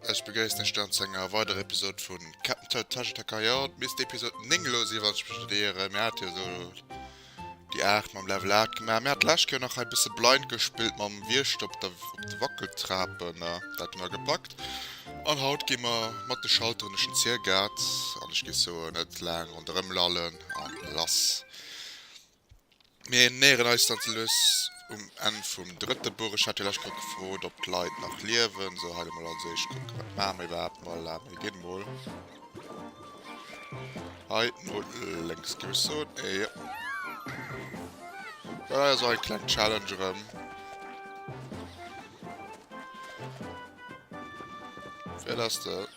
Ech begéissen ech dann zu enger weiderer Episode vun Captain Toad Taschetacker. Ja, misst Episode 9 lo sinn, wann ech mech net ieren. Mir hate jo so Déi 8 mam Level 8 gemaach. Mir hat d'lescht Kéier nach hei bësse Blind gespillt mam Wiechter op der op de Wackeltrapen. Dat hu mer gepackt. An haut gi mer mat de Schalteren duerch den Ziergaart. An ech gi soen, net laang ronderëm lallen an lass. Mir näheren eis dann ze lues um Enn vum drëtte Buch. Ech hat jo d'lescht Kéier gefrot, ob d'Leit nach liewen. Sou, hei do mol als éischt kucken, wat maache mer iwwerhaapt. Mol, laat mer ginn mol. Hei no lenks geuss soen. Eeh. Da war so ein klein Challenge rem. Wer das da?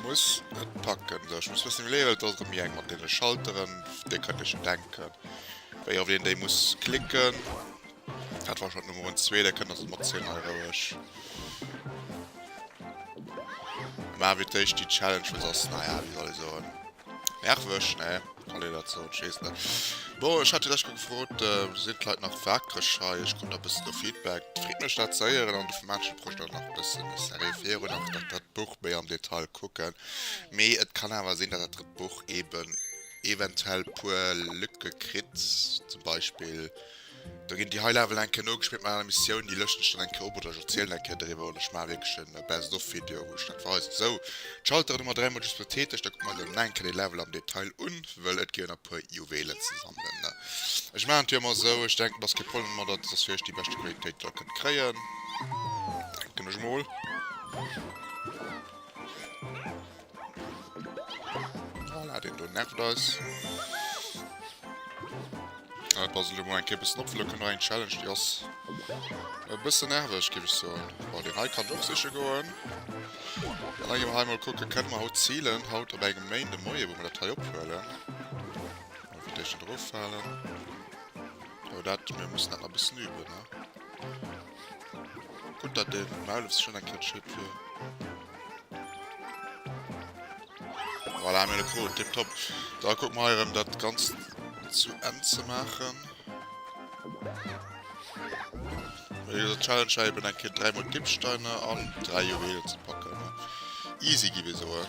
Muss et packen. So, ich muss wissen, wie levelt das rem jeng mit den Schalteren. Der könnt ihr schon denken. Weil auf den, der muss klicken. Dat war schon Nummer 2, der kënnt ass mat 10 hei roueg. Ma wie d'éischt die Challenge wës ass naja wie soll eso nervwech ne kann ee dat soen, schees net. Bo ech hat lech gefrot äh, si kleit nach wakereg hei, ech krut a bëssen no Feedback. Freet mech dat zéieren an de vu Mädchen bruecht dat nach bëssen de Serie virun an dat dat Buch méi am Detail kucken. Mee et kann awer sinn, dat dat Drëtt Buch eben eventuell puer Lücke kritt, zum Beispill. Do ginn déi hei Level eng Kéier nogespillt mat aner Missiounen, déi lëschten ech dann eng Kéier op oder ech erzielen eng Kéier doriwwer oder ech maache wierklech e Best of Video wou ech dat weisen. Esou, d'Schalteren ëmmer dräimol just betätegt, da kucke mer dann eng Kéier de Level am Detail un, wëll et ginn jo nach e puer Juwelen ze sammelen. Ech maachen et jo ëmmer esou, ech denken et ass kee Problem domadder, et ass fir iech déi beschte Qualitéit déi der kënnt kréien, denken ech mol. Voilà, den do nervt eis. Dat war sech mol eng Kéier bëssen opflëcken, war eng Challenge, déi ass e bësse nerveg, géif ech soen. Bon, den hei kann och siche goen. Dann enge mer hei mol kucke, kënne mer haut zilen, haut op engem Méindemoie, wou mer dat hei ophuelen. Mol fir d'éischt net eroffalen. Jo, dat, mir mussen dat nach e bëssen üben, ne? Gutt, datt de Maulef sech ënnerkëtscht kritt fir... Voilà, mir hu Kron, tip top. Da kucke mer hei erëm dat Ganzt zu Enn ze maachen. Wéi gesot, d'Challenge war eben eng Kéier dräi mol Dippsteiner an dräi Juwelen ze packen. Easy gi mir soen.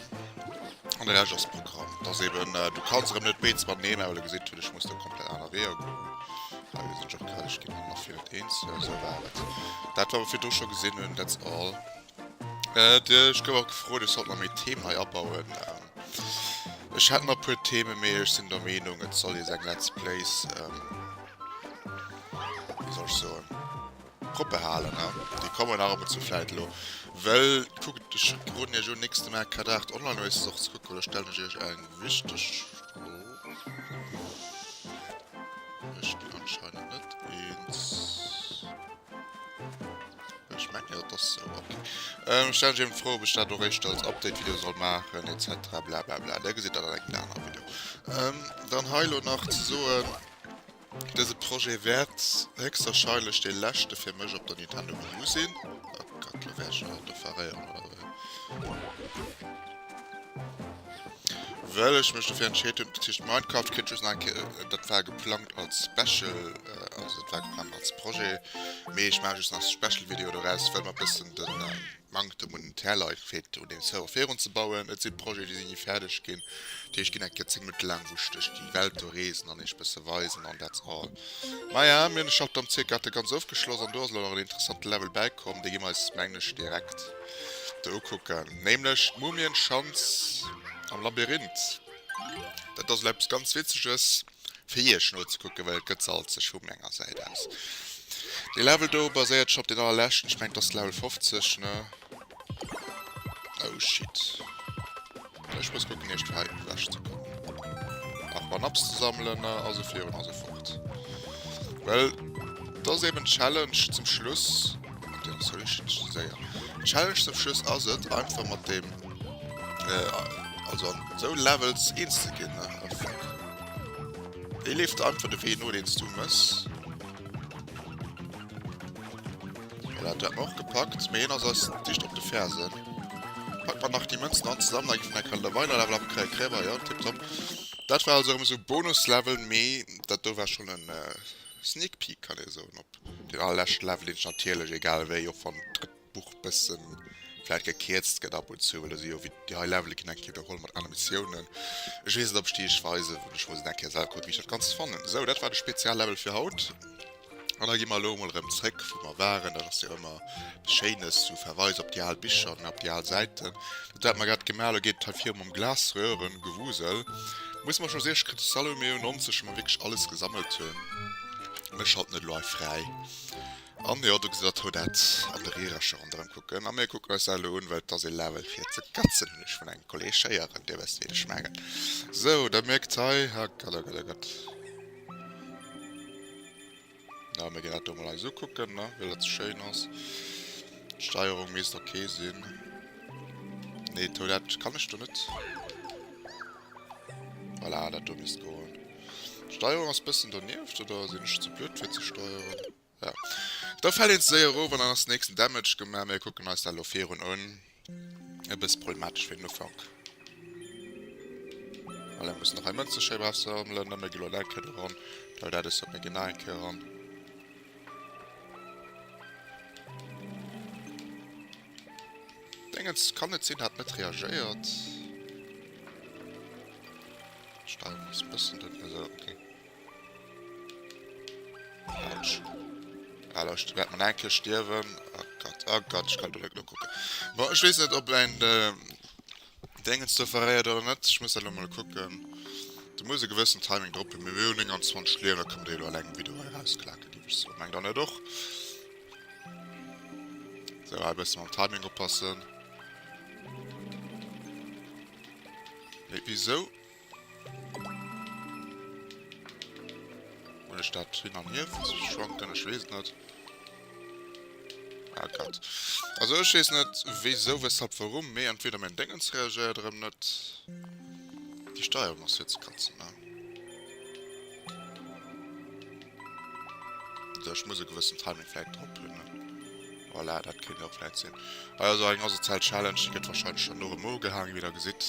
An de Rescht ass Programm. Et ass eben, du kanns erëm net béid mat neemen, well du gesit hutt, ech muss do komplett aner Weeër goen. Hei gesi ech och grad, ech ginn erëm nach fir dat Eenzele, sou war et. Dat wat mer virdru scho gesinn hunn, that's all. Ech gouf och gefrot, ech sollt mer méi Theme hei abauen. Ech hätt nach puer Theme mee ech sinn der Meenung et soll ee seng Let's Plays, wéi soll ech soen, propper halen ne, déi kommen nach ab und zu vläit elo well kuckt ech roden iech un nächste Mal Cad 8 online no eistes och ze kucken oder stellen ech iech eng wichteg Fro? Ech ginn anscheinend net eens. Ech mengen jo, dat ass esou. Ok. Ähm, ech stelle mech fro, ob ech dat och éischter als Update-Video soll maachen, etc. Blablabla. Där gesitt dat an engem anere Video. Ähm, dann hei elo nach ze soen, Dëse Projet wäert héchstwarscheinlech dee leschte fir mech op der Nintendo Wii U sinn. Oh Gott, elo wär ech jo an der Verréierung, oder wéi? Well ech mech dofir entscheet hunn, bezicht Minecraft kritt just nach eng Kéier, dat war geplangt als Special, also dat war geplangt als Projet, mee ech maache just nach Special Video doraus, well mer e bëssen de Manktem un Interlike feelt, un deem Server virun ze bauen. Et si Projete déi si ni fäerdeg ginn, déi ech ginn eng Kéier 10 Minutte laang, wou ech duerch déi Welt do reesen an iech bësse weisen an that's all. Maja, mir hunn de Shutdown ca. Hat e ganz ofgeschloss an do ass elo nach en interessante Level bäikomm, dee gi mer eis mengen ech direkt. Do ukucken, nämlech d'Mumienschanz am Labyrinth. Dat ass elo eppes ganz Witzeges fir Iech nozekucken, well et gëtt se alt sech vu meng enger Säit aus. Dee Level do baséiert scho op deen allerleschten, ech mengen et ass Level 50, ne? Oh shit. Ech muss kucken eischt fir hei ewech ze kommen an Banaps ze sammelen a sou virun a sou fort. Well dat ass eben d'Challenge zum Schluss. An déi ass wierklech schi schi séier. D'Challenge zum Schluss ass et einfach mat deem äh, also an sou Levels eens ze ginn ne. Oh fuck. Dee leeft der einfach de Wee no deen s du mëss. Voilà, dat hat mer och gepackt, mee hien ass eis dicht op de Fersen. Packen mer nach déi Mënzen an zesammen, da ginn mer enkele weider Level am Kräi Kräber, jo, tiptop. Dat war also erëm esou e Bonuslevel, mee dat do war schonn en Sneak Peek, kann ee soen, op deen allerleschte Level, deen ech natierlech, egal wéi, och wann d'Buch e bësse vläicht gekierzt gëtt ab und zu, well do si jo wéi déi hei Levele ginn eng Kéier widerholl mat anere Missiounen. Ech weess net, ob ech déi iech weisen, ech muss et eng Kéier selwer kucken, wéi ech dat Ganzt fannen. Esou, dat war de Speziallevel fir haut. An da gi mer elo emol erëm zréck, wou mer waren. Dat ass jo ëmmer eppes Schéines, sou Verweis op déi al Bicher an op déi al Säiten. Dat, wat mer grad gemaach hu, elo geet et hei virum mam Glasröhre-Gewusel. Muss mer schon seesch kritesch Salut Méo 90, wou mer wierklech alles gesammelt hunn. Ech schalten et elo hei fräi. An jo, do gesitt Der d'Rue Dat an de Rierercher ronderëm kucken. A mir kucken eis dat elo un, well et ass ee Level fir ze katzen, hunn ech vun engem Kolleeg héieren. Dir wësst, wien ech mengen. Sou, Der mierkt hei, herrgott, herrgott, herrgott. Ja, mir gehen dat do mal eis ukucken, ne? Well dat so schön ass. D'Steierung misst okay sinn. Nee, d'Toilette kann ech do net. Voilà, dat do misst goen. D'Steierung ass bëssen donieft, oder sinn ech ze blöd fir ze steieren? Voilà. Do fällt een ze séier erof an dann ass den nächsten Damage gemaach. Mir kucken eis dat elo virun un. E bësse problematesch fir den Ufank. Voilà, mussen nach hei Mënze schéi brav sammelen. Dann huet ee elo dat kritt eran. Dau dat esou, mir ginn nach eng Kéier eran. Dingens, kann net sinn, hat net reagéiert. D'Steuerung ass e bëssen den. Esou, okay. Allocht, wärt man enke stierwen. Oh Gott, oh Gott, ich kann direkt nur gucken. Bon, ich weiß nicht, ob ein äh, Dingens da verreiert oder nicht. Ich muss halt mal gucken. Du musst ein gewissen Timing drop haben. Wir haben 29 Lehrer, kommt eh nur allein ein Video herausklacken, gebe ich so. Mein dann nicht doch. So, ein bisschen am Timing oppassen. Hey, wieso? Hun ech dat hin an hier schwanken? Ech wees net. Ah Gott. Also ech wees net wéisou, weshalb, warum, mee entweder mein Dengens reagéiert erem net. Die Steuerung ass fir ze katzen, ne? Also ech muss e gewëssen Timing vläit drop hun, ne? Voilà, dat kéint och vläit sinn. Also eng asozial Challenge, déi gëtt wahrscheinlech schon no erem ogehaang, wéi der gesitt.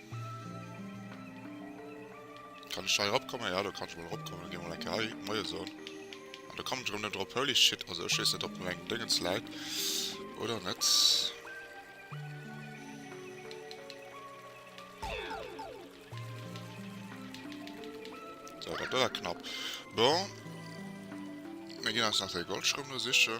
Kann ech hei erop kommen? Ja do kann ech mol erop kommen. Gi mol eng Kéier hei Moie soen. An do kommen ech erëm net erop. Holy shit, also ech weess net ob meng Déngens läit oder net. Dëwer knapp bon. Mir ginn eis nach de Goldschrëm do sichen.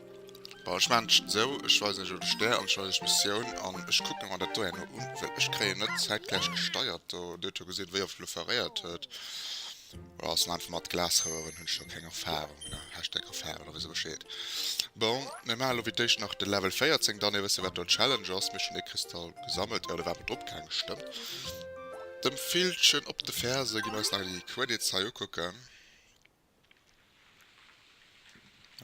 Bon, ech maachen et esou, ech weisen iech elo de Stär an ech weisen iech d'Missioun an ech kucken mer dat do herno un, well ech kréien net zäitgläich gesteiert do. Dir hutt jo gesinn, wéi oft elo veréiert huet. Oder ass en einfach mat Glasroueren, hunn ech jo keng Erfahrung ne, Hashtag Erfahrung, da wësst der Bescheed. Bon, mir maachen elo fir d'éischt nach de Level 14, dann ee wësse wat do d'Challenge ass. Mir hu schonn ee Kristall gesammelt, jo, do ware mer drop gaangen, stëmmt. Dem Villchen op de Ferse gi mer eis nach déi Credits hei ukucken.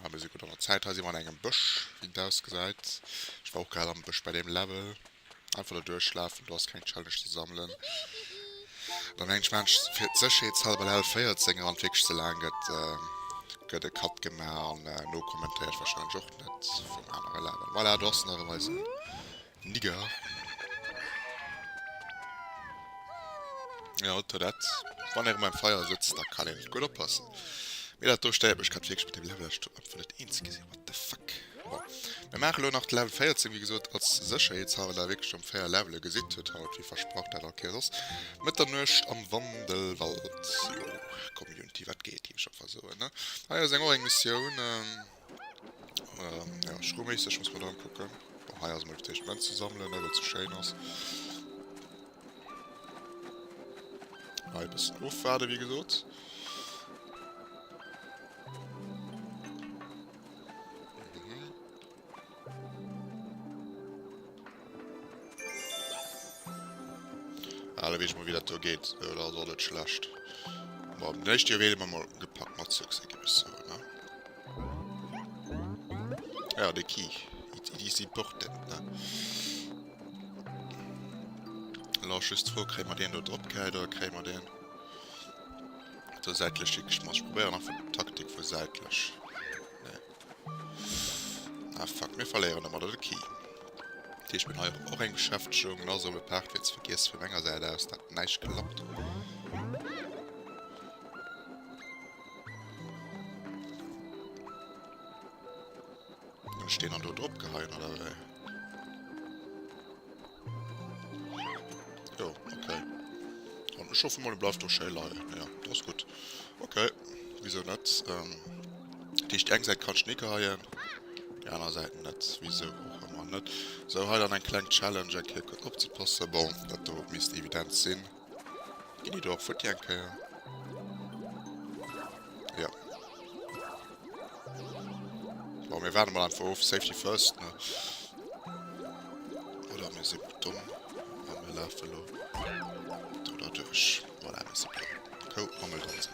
Ah, mir si gutt an der Zäit. Hei si mer an engem Bësch, wéi en ausgesäit. Ech war och grad am Bësch bei deem Level. Einfach do duerchlafen, do ass keng Challenge ze sammelen. Da mengen ech, maachen ech se fir d'Sécherheetshalber Level 14 eran. Wierklech ze laang gëtt, gëtt e Cut gemaach an nokommentéiert warscheinlech och net vum anere Level. Voilà, do ass en erëm, eisen Nigger. Ja, Toilette. Wann er beim Feier sitzt, da kann ich gut oppassen. Mir dat do steiert mech grad wirklich mit dem Level, ich tut einfach net eens gesehen. What the fuck? Bon. Wir machen lo nach Level 14, wie gesagt, als Sicherheitshalber, da wirklich um 4 Level gesehen tut haut, wie versprochen, dat okay sos. Mit der Nurscht am Wandelwald. Jo, Community, wat geht, die ich schon versuchen, ne? Ah ja, seng auch eng Mission, ähm. Ja schrouméisseg muss mer da kucken. Bon, hei ass mol d'éischt Mënz ze sammelen, well et ze schéin ass. Hei e bëssen ofwaarde wéi gesot. Alle wees mol wéi dat do geet, dat ass och net schlecht. Bon, den éischte Joer wéilt mer mol gepackt mat Succès ginn ech soen, ne? Ja, de Key, it, it is important, ne? Elo ass just d'Fro, kréie mer deen do drop gehäit oder kréie mer deen do säitlech higeschmass? Ech probéieren einfach d'Taktik vu säitlech. Ah fuck, mir verléieren ëmmer de Key. Deeg bin hei och eng Beschäftegung, na soll e Part fir ze vergiess vu menger Säit aus, dat näischt klappt. Hun ech deen an do drop geheien oder wéi? Jo, okay. An ech hoffe mol e bleift och schéi leien. Ja, dat ass gutt. Okay, wisou net? Ähm, dat heescht, déi eng Säit kann Schneeke heien, déi aner Säit net. Wisou och ëmmer net. Sou, hei dann eng kleng Challenge, eng Kéier gutt opzepassen. Bon, dat do misst evident sinn. Gini dor futti eng Kéier. Ja. Bon, mir warden mal einfach of. Safety first, ne? Oder mir sinn dumm. An mir lafen lo. Oder duerch. Voilà, mir sinn dumm. Kou, Angel dran sinn.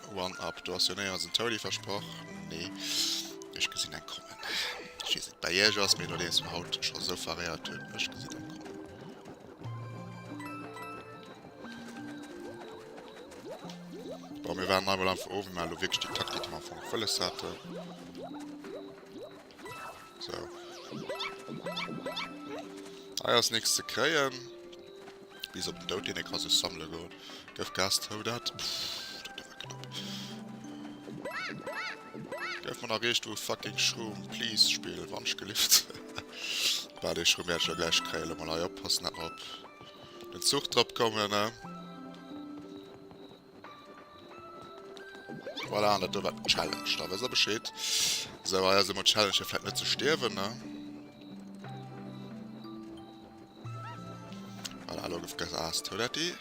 One up, do ass jo néierens en Toady versprach. Nee, ech gesinn eng kommen. Ech weess net bei iech ass, mee nodeems mer haut scho sou faréiert hunn, ech gesinn eng kommen. Bon, mir waren nei mol am Ofn, mä elo wierklech déi Taktik, déi mer am Fong op wëlles haten. Hei ass nix ze kréien. Bis op den Dout, deen ee ka sech sammele goen. Gëff Gas, hou dat. Dat war knapp. Gëff mer nach riichtwou fucking Schroom. Please, Spill, wann's gelift. Bah, dee Schroom wäert ech jo gläich kréien. Lo mol hei oppassen, dat mer op den Zuch drop kommen, ne? Voilà, an dat do war d'Challenge. Da wësst der Bescheed. Esou, hei ass emol d'Challenge fir vläit net ze stierwen, ne? Voilà, elo gëff Gas ass d'Tour dat déi.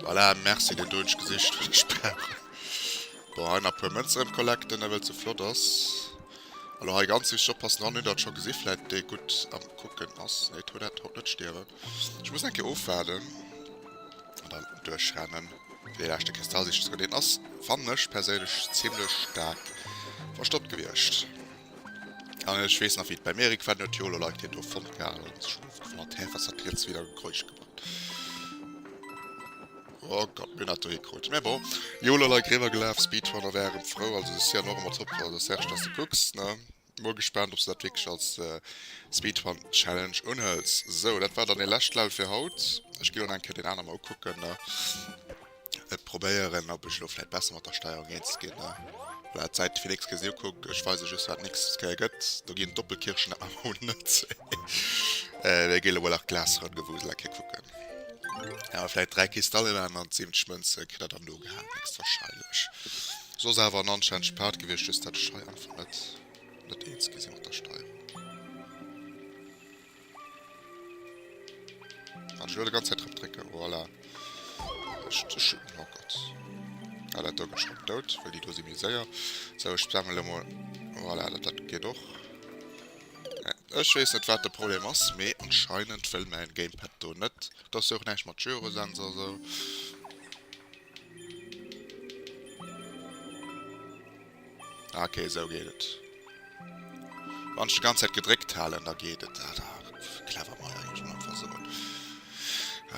Voilà, merci, deen do hunn ech gesicht fir de Sperr. Bon, hei nach e puer Mënze rëm collecten, ewell et ze flott ass. Elo hei ganz wichteg oppassen, wann een dat scho gesi vläit dee gutt am Kucken ass. Nee, d'Tour dat haut net stierwen. Ech muss eng Kéier ofwaarden. An dann duerchrennen fir dee leschte Kristall sichen ze goen. Deen ass fannen ech perséinlech zimlech staark verstoppt gewiescht. An ech weess nach wéi d'Bäi Merik war, deen huet jo elo like deen do fonnt gehat an sech elo gewonnert. Hä wat hat riets weder Geräusch gemacht? Oh Gott mir hunn dat do hie krut. Mä bon jo elo like riwwer gelaf. Speedrunner wär erëm frou also se si an och ëmmer top also Serge dass de kucks ne. Mol gespaant ob se dat wierklech als Speedrun-Challenge unhëls. Sou, dat war dann ee lescht Level fir haut. Ech ginn elo nach eng Kéier deen anere mol ukucken, ne. Et probéieren, ob ech elo vläit besser mat der Steierung eens ginn, ne. Voilà, d'Säit fir nächst Kéier sinn ukuckt. Ech weise just wat nächst Kéier gëtt. Do ginn d'Doppelkirsche nach emol net. Mir ginn elo mol nach d'Glasrënnengewusel eng Kéier kucken. Awer vläit 3 Kristallen an 70 Mënze kritt der dann do gehaangen héchstwarscheinlech. Soss awer en anstännegesch Part gewiescht, just dat Scheier. Wou net net eens gi si mat der Steierung. Wat ech elo de ganz Zäit drop drécke, voilà. Ech, ech, oh Gott. Ah, dat do gëtt schon dout, well déi do si méi séier. Sou, ech spammen elo mol, voilà, dat, dat geet och. Ech weess net wat de Problem ass, mee anscheinend wëll mäin Gamepad do net. Do ass jo och näischt mat Gyrosensor esou. Ah, okay, esou geet et. Wann ech de ganz Zäit gedréckt halen, da geet et. Ah, da, clever mei eigentlech am Anfang esou.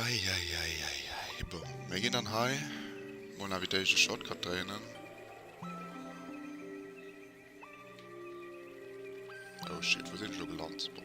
Eieieiei. Bon, mir ginn dann hei mol nawell déi de Shortcut dréinen. Oh shit, wou sinn ech elo gelant? Bon.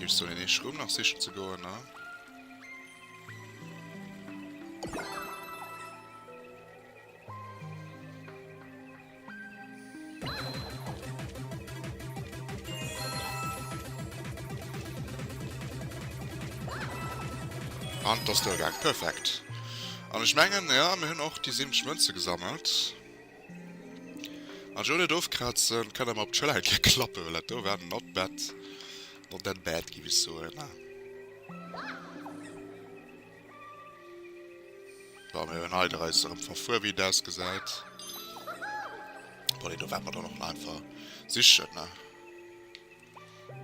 Ech soll een eescht Rumm nach sichen ze goen, ne? An t'ass duergaang. Perfekt. An ech mengen, jo, mir hunn och déi 70 Mënze gesammelt. An jo net ofkrazen, kann awer op d'Schëller eng Kéier klappen, well dat do war not bad, not that bad giff ech soen. Bon, mir hun hei der eis erëm verfuer, wéi et ausgesäit. Bon, dee do ware mer dann och nach einfach sichen, ne?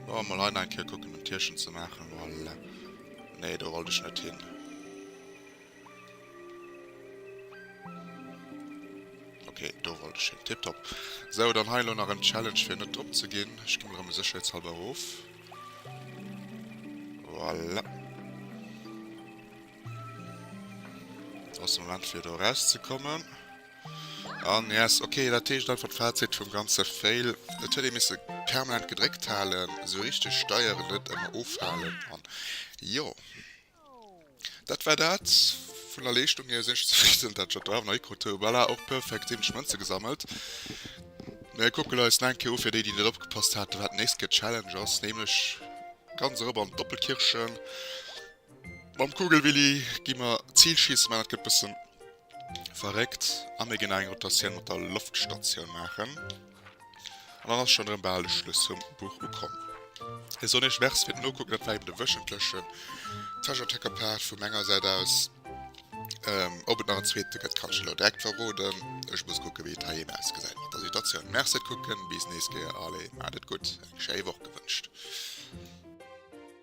Bon, mol hei nach eng Kéier kucken, en Tierchen ze maachen, voilà. Nee, do wollt ech net hin. Okay, do wollt ech hin. Tiptop. Sou, dann hei elo nach en Challenge fir net drop ze ginn. Ech gi mol erëm sécherheetshalber erof. Voilà. Ass de Moment fir do rauszekommen. An yes, okay, dat heescht einfach d'Fazit vum ganze Fail. Et huet ee misse permanent gedréckt halen, sou richteg steieren, net ëmmer ofhalen an jo. Dat war dat vun der Leeschtung hier. Sinn ech zefridden, dat ech dat do awer nach hikrut hu. Voilà, och perfekt, 70 Mënze gesammelt. Mir kucken eis nach eng Kéier u, fir déi, déi net opgepasst haten, wat nächst Kéier d'Challenge ass, nämlech ganz erop an d'Doppelkirchen. Mam Kugelwilli gi mer d'Zil schiessen, mä dat gëtt e bësse verréckt. A mir ginn nach eng Rotatioun mat der Loftstatioun maachen. An dann ass schon erem baal de Schluss vum Buch ukomm. Ech soen iech Merci fir den Nokucken, dat war eben de wöchentlechen Treasure Tracker Part vu menger Säit aus. Op et nach en zweete gëtt kann ech elo direkt verroden, ech muss kucken wéi et heiheen ausgesäit mat der Situatioun. Merci fir d'Kucken, bis nächst Kéier, allez, maacht et gutt, eng schéi Woch gewënscht.